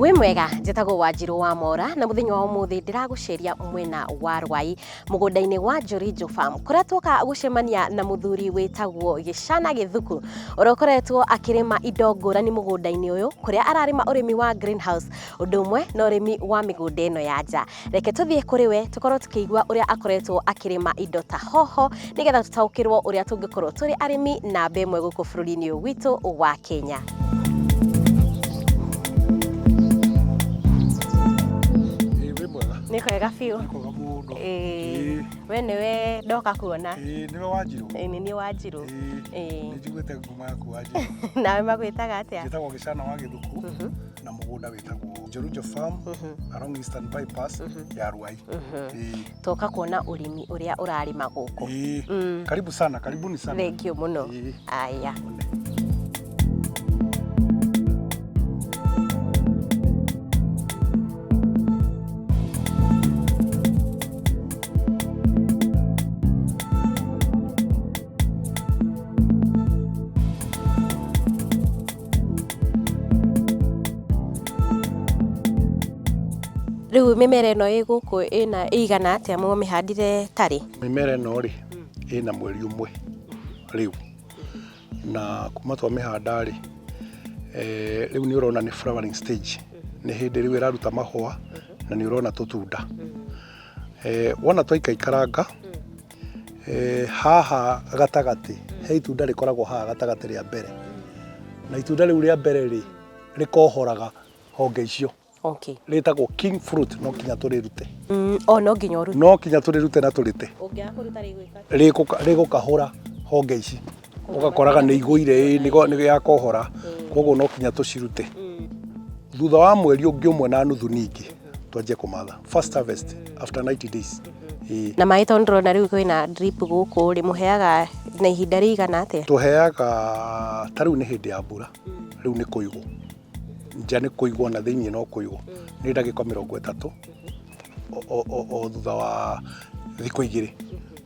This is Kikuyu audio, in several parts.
wĩ mwega njĩtagwo wanjirũ wa mora na mũthenya wa ũmũthĩ ndĩragũceria mwena wa rwai mũgũnda-inĩ wa njorinjo farm kũrĩa tuoka gũcemania na mũthuri wĩtagwo gĩcana gĩthuku ũrĩa ũkoretwo akĩrĩma indo ngũrani mũgũnda-inĩ ũyũ kũrĩa ararĩma ũrĩmi wa greenhouse ũndũ ũmwe na ũrĩmi wa mĩgũnda ĩno ya nja reke tũthiĩ kũrĩ we tũkorwo tũkĩigua ũrĩa akoretwo akĩrĩma indo ta hoho nĩgetha tũtaũkĩrwo ũrĩa tũngĩkorwo tũrĩ arĩmi namba ĩmwe gũkũ bũrũri-inĩ ũyũ witũ wa Kenya. Ĩĩ, wĩ mwega Nĩ kwega biũ. nĩ kwega mũno Ĩĩ, we nĩwe ndoka kuona. Ĩĩ, nĩwe wanjirũ Ĩĩ, nĩ niĩ Wanjirũ. Ĩĩ. nĩnjiguĩte nguma yaku wanjirũ nawe magwĩtaga atĩa njĩtagwo gĩcana wa gĩthuku Mhm. na mũgũnda wĩtagwo Njorunjo Farm Mhm. along Eastern Bypass Mhm. ya Ruai. Mhm. Eh, toka kuona ũrĩmi ũrĩa ũrarĩma gũkũ eh, Mm. Karibu sana, karibuni sana. thengio mũno Eh, aya Rĩu mĩmera ĩno ĩ gũkũ ĩna ĩigana atĩa mũmĩhandire tarĩ? Mĩmera ĩno rĩ, ĩna mweri ũmwe rĩu. Na kuma twamĩhanda rĩ, eh, rĩu nĩ ũrona nĩ flowering stage. Nĩ hĩndĩ rĩu ĩraruta mahũa na nĩ ũrona tũtunda. Eh, wona twaikaikaranga, Eh, haha gatagatĩ he itunda rĩkoragwo haha gatagatĩ rĩa mbere na itunda rĩu rĩa mbere rĩ rĩkohoraga honge icio okay rĩtagwo king fruit no kinya tũrĩrute mm, o no nginya ũrute no kinya tũrĩrute na tũrĩte ũngĩaga kũruta rĩgwĩka rĩgũka- rĩgũkahũra honge ici ũgakoraga nĩ igũire ĩ, nĩ go- nĩ ya kohora koguo no kinya tũcirute thutha wa mweri ũngĩ ũmwe na nuthu ningĩ twanjie kũmatha first harvest after 90 days ĩ na maĩ tondũ ndĩrona rĩu kwĩna drip gũkũ rĩ mũheaga na ihinda rĩigana atĩa tũheaga ta rĩu nĩ hĩndĩ ya mbura rĩu nĩ kũigwo nja nĩ kũigwo na thĩinĩ no kũigwo nĩ ndagĩka mĩrongo ĩtatũ o- o- o- o thutha wa thikũ igĩrĩ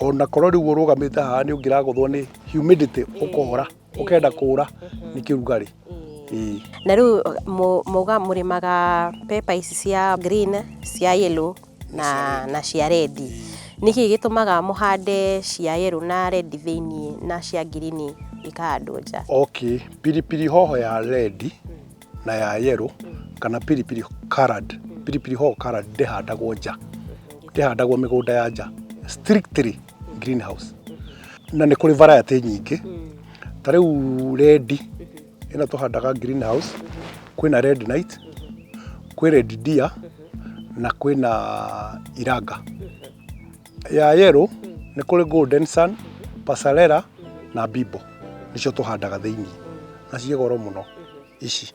ona korwo rĩu ũrũgamĩte haha nĩ ũngĩragũthwo nĩ humidity ũkora ũkenda kũra nĩ kĩrugarĩ Ĩĩ. na rä u mauga må rä maga pepa ici cia green cia yellow na, na cia redi nä kä gä tå maga må hande cia yellow na redi thä iniä na cia ngirini ikahandwo nja okay piripiri hoho ya rendi na ya yellow kana piripiri colored piripiri hoho colored ndĩhandagwo nja ndĩhandagwo mĩgũnda ya nja strictly greenhouse na nĩ kũrĩ variety nyingĩ ta rĩu red ĩno tũhandaga greenhouse kwĩna red night kwĩ red deer na kwĩna iranga ya yero nĩ kũrĩ golden sun pasarera na bibo nĩcio tũhandaga thĩinĩ na ciĩ goro mũno ici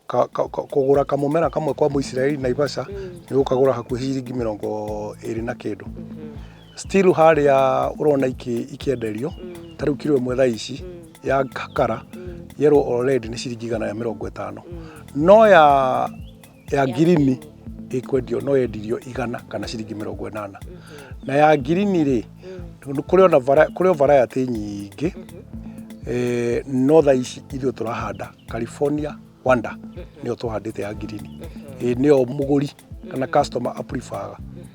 Ka- ka- ka- kũgũra kamũmera kamwe kwa mũisiraeli naivasha nĩ ũkagũra hakuhĩ ciringi mĩrongo ĩrĩ na kĩndũ still harĩa ũrona iki- ikĩenderio ta rĩu kiro ĩmwe thaa ici ya kakara yero already nĩ ciringi igana rĩa mĩrongo ĩtano no ya ya ngirini ĩkwendio no yendirio igana kana ciringi mĩrongo ĩnana na ya ngirini rĩ kũrĩ ona vara- kũrĩ o varayatĩ nyingĩ eh, no tha ici ithuĩ tũrahanda california wanda nĩyo tũhandĩte ya ngirini Eh, nĩyo mũgũri kana customer aprifaga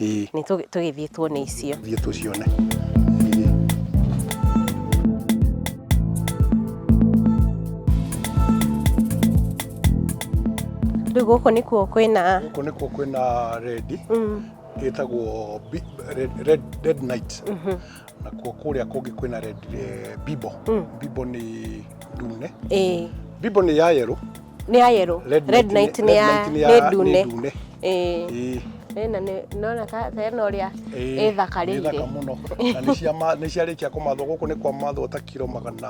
Ĩĩ. Nĩ tũ- tũgĩthiĩ tuone icio thiĩ tũcione rĩu gũkũ nĩkuo kwĩna gũkũ nĩkuo kwĩna rendi mm, ĩtagwo bi- red, red, red night mhm, nakuo kũrĩa kũngĩ kwĩna red eh, bibo Mm. bibo nĩ ndune ĩĩ bibo nĩ ya yerũ nĩ ya yero Red red night night nĩ- nĩ ya red night nĩ ya- nĩ nĩ ndune ndune. Ĩĩ. Ĩĩ. ĩna nĩ- nĩwona ka ta ĩno ũrĩa Ĩĩ, nĩ thaka ĩthakarĩire mũno na nĩ cia ma- nĩ ciarĩkia kũmathwo gũkũ nĩ kwa mathwo ta kiro magana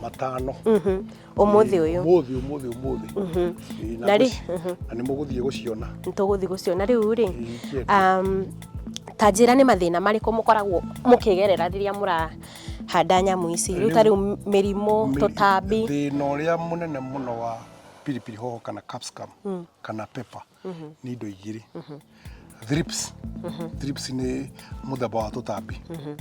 matano Mhm. ũmũthĩ ũyũ ũmũthĩ ũmũthĩ ũmũthĩ Mhm. Ĩĩ, na Na rĩ- gũci- mhm. na nĩ mũgũthiĩ gũciona nĩtũgũthiĩ gũciona rĩu rĩ Ingĩenda. um, ta njĩra nĩ mathĩna marĩkũ mũkoragwo mũkĩgerera rĩrĩa mũra handa nyamũ ici rĩu ta rĩu mĩrimũ tũtambi thĩna ũrĩa mũnene mũno wa pilipili hoho kana capsicum mm. kana pepper mm -hmm. nĩ indo igĩrĩ mm -hmm. thrips mm -hmm. thrips nĩ mũthemba wa tũtambi mm -hmm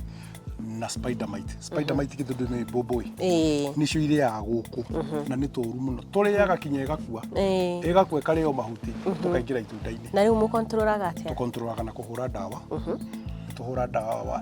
na spider mite spider mite mm -hmm. githudu ni mbombo i e. nicio iriaga guku mm -hmm. na ni turu muno turiaga kinya igakua e. igakua ikario mahuti mm -hmm. tukaingira itunda-ini na riu mu controlaga atia tu controlaga na kuhura dawa mm -hmm. tuhura dawa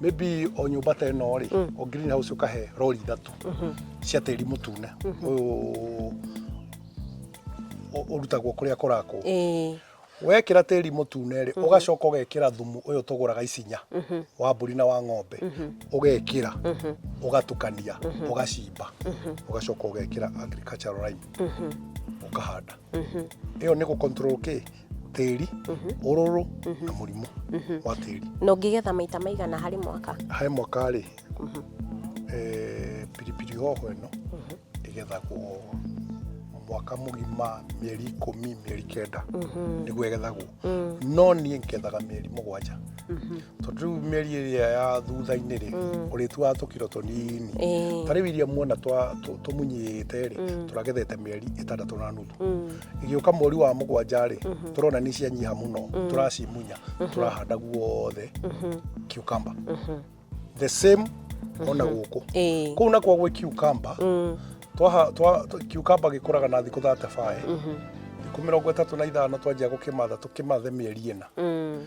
maybe o nyũmba ta ĩno rĩ mm. o green house ũkahe rori ithatũ mm-hmm. cia tĩri mũtune mm-hmm. ũyũ ũrutagwo kũrĩa kũrakwo wekira tĩri mũtune rĩ mhm. ũgacoka ũgekira thumu ũyũ tũgũraga icinya mhm. wa mbũri na wa ng'ombe mhm. ũgekira ũgatukania ũgacimba ũgacoka ũgekira agricultural lime ũkahanda ĩyo nĩ gũcontrol kĩ tĩri ũrũrũ na mũrimũ wa tĩri na ũngĩgetha maita maigana harĩ mwaka harĩ mwaka rĩ eh, pilipili hoho ĩno ĩgethagwo mwaka mũgima mĩeri ikũmi mĩeri kenda nĩguo ĩgethagwo no niĩ ngethaga mĩeri mũgwanja tondũ rĩu mĩeri ĩrĩa ya thutha-inĩ rĩ ũrĩtuaga tũkiro tũnini Ĩĩ. ta rĩu iria muona twa- tũ- tũmunyĩte rĩ tũragethete mĩeri ĩtandatũ na nuthu igĩũka mweri wa mũgwanja rĩ tũrona nĩ cianyiha mũno tũracimunya tũrahanda guothe cucumber the same ona gũkũ Ĩĩ. kũu nakuo gwĩ cucumber Mm. twaha twa twa- cucumber gĩkũraga na thikũ 35 thikũ mĩrongo ĩtatũ na ithano twanjia gũkĩmatha tũkĩmathe mĩeri ĩna Mm.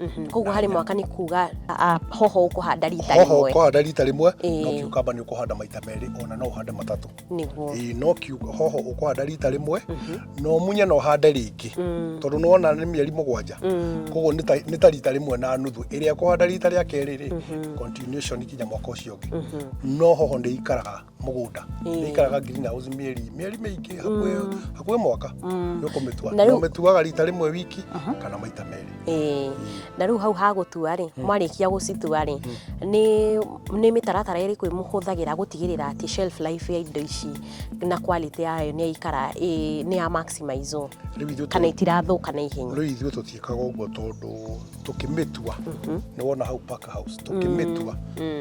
Mhm. koguo harĩ mwaka nĩ kuga a- a- hoho ũkũhanda rita hoho rĩmwe ũkũhanda rita rĩmwe Ĩĩ. no kiukamba nĩ ũkũhanda maita merĩ ona no ũhande matatũ nĩguo Ĩĩ, no kiu- hoho ũkũhanda rita rĩmwe no munye no ũhande rĩngĩ Mm, tondũ nĩ wona nĩ mĩeri mũgwanja mm, koguo nĩ ta- nĩ ta rita rĩmwe na nuthu ĩrĩa kũhanda rita rĩa kerĩ rĩ continuation kinya mwaka ũcio ũngĩ mhm. no hoho nĩ ikaraga mũgũnda Ĩĩ. nĩ ikaraga green house mĩeri mĩeri mĩingĩ hakuhĩ hakuhĩ mwaka nĩ ũkũmĩtua Na na rĩu- ũmĩtuaga rita rĩmwe wiki kana maita merĩ Ĩĩ. na rĩu hau hagũtua rĩ mwarĩkia gũcitua rĩ nĩ nĩ mĩtaratara ĩrĩkũ ĩmũhũthagĩra gũtigĩrĩra atĩ shelf life ya indo ici na quality yayo nĩ yaikara ĩ- nĩ ya maximize rĩu ithuĩ kana tũ- itirathũka na ihenya rĩu ithuĩ tũtiĩkaga ũguo tondũ tũkĩmĩtua nĩ wona hau park house tũkĩmĩtua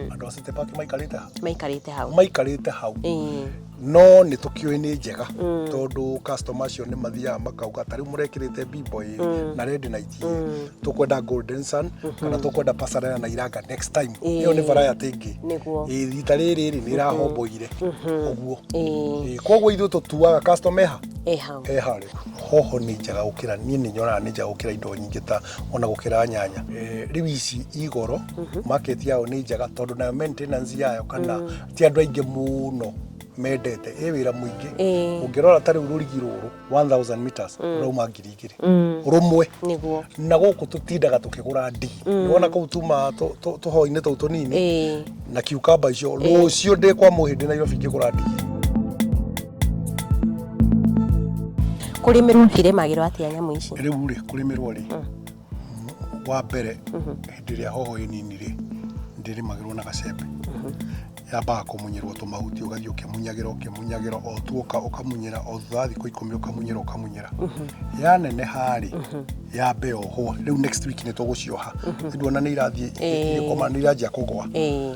andũ a city park maikarĩte hau maikarĩte hau maikarĩte hau Ĩĩ. no nĩ tũkĩũĩ nĩ njega tondũ customer acio nĩ mathiaga makauga ta rĩu mũrekĩrĩte bimbo ĩ na rendi na iti tũkwenda golden sun kana tũkwenda pasarela na iranga next time Ĩĩ. ĩyo nĩ variety ĩngĩ Nĩguo. Ĩĩ, rita rĩrĩ rĩ nĩ ĩrahomboire ũguo Ĩĩ. Ĩĩ, koguo ithuĩ tũtuaga customer eha e hau eha rĩ hoho nĩ njega gũkĩra niĩ nĩ nyonaga nĩ njega gũkĩra indo nyingĩ ta ona gũkĩra nyanya Eh, rĩu ici igoro market yao nĩ njega tondũ nayo maintenance yayo kana ti andũ aingĩ mũno mendete ĩ wĩra mũingĩ Ĩĩ. ũngĩrora ta rĩu rũrigi rũrũ 1000 meters rũrauma ngiri igĩrĩ rũmwe nĩguo na gũkũ tũtindaga tũkĩgũra ndigi nĩwona kũu tuma tũ- tũ- tũhoi-inĩ tũu tũnini ĩĩ na kiukamba icio rũciũ ndĩ kwa mũhĩndĩ nairobi ngĩgũra ndigi kũrĩmĩrwo irĩmagĩrwo atĩa nyamũ ici rä u rä kå rä mä rwo rä wa mbere hĩndĩ ĩrĩa hoho ĩ nini rĩ ndĩrĩmagĩrwo na gacembe yambaga kũmunyĩrwo tũmahuti ũgathiĩ ũkĩmunyagĩra ũkĩmunyagĩra o tuoka ũkamunyĩra o thutha wa thikũ ikũmi ũkamunyĩra ũkamunyĩra yaneneha rĩ yambe ohwo rĩu next week nĩ tũgũcioha nduona nĩ irathiĩ Ĩĩ. ikoma nĩ iranjia kũgwa Ĩĩ.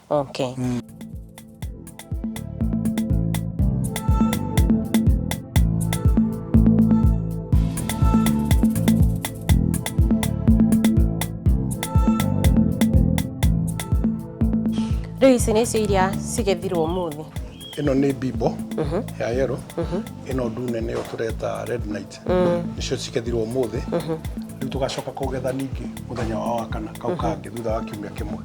Okay. Rĩu ici nĩcio iria cigethirwo ũmũthĩ. ĩno nĩ bimbo ya yero ĩno ndune nĩyo tũreta red night nĩcio cigethiruo ũmũthĩ rĩu tũgacoka kũgetha ningĩ mũthenya wa wakana kau kangĩ thutha wa kiumia kĩmwe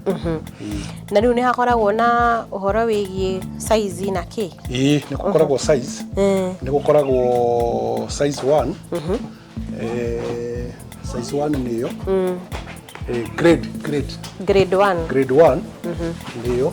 Ĩĩ. na rĩu nĩ hakoragwo na ũhoro wĩgiĩ saizi na kĩ ĩĩ nĩ gũkoragwo size Mm. nĩ gũkoragwo size one Eh, size one nĩ yo Eh, grade grade grade one grade one nĩ yo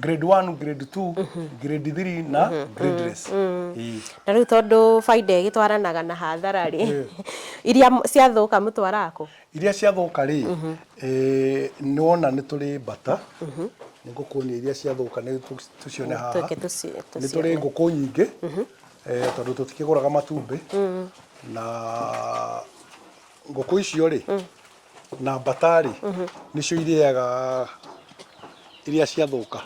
grade 1 grade 2 grade 3 na grade less Ĩĩ. na rĩu tondũ baida ĩgĩtwaranaga na hathara rĩ iria m- ciathũka mũtwaraga kũ iria ciathũka rĩ eh, nĩ wona nĩ tũrĩ mbata nĩ ngũkuonia iria ciathũka nĩ tũ- tũcione haha Tũke tũci- nĩ tũcione. tũrĩ ngũkũ nyingĩ eh, tondũ tũtikĩgũraga matumbĩ na ngũkũ icio rĩ Na mbata-rĩ, nĩcio irĩaga iria ciathũka.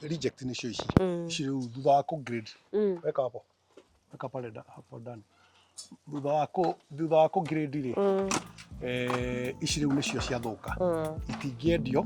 Reject nĩcio ici. Ici rĩu thutha wa kũ grade, weka hapo, weka pale nda- hapo ndani. Thutha wa kũ- thutha wa kũ grade-rĩ, eh, ici rĩu nĩcio ciathũka. Itingĩendio,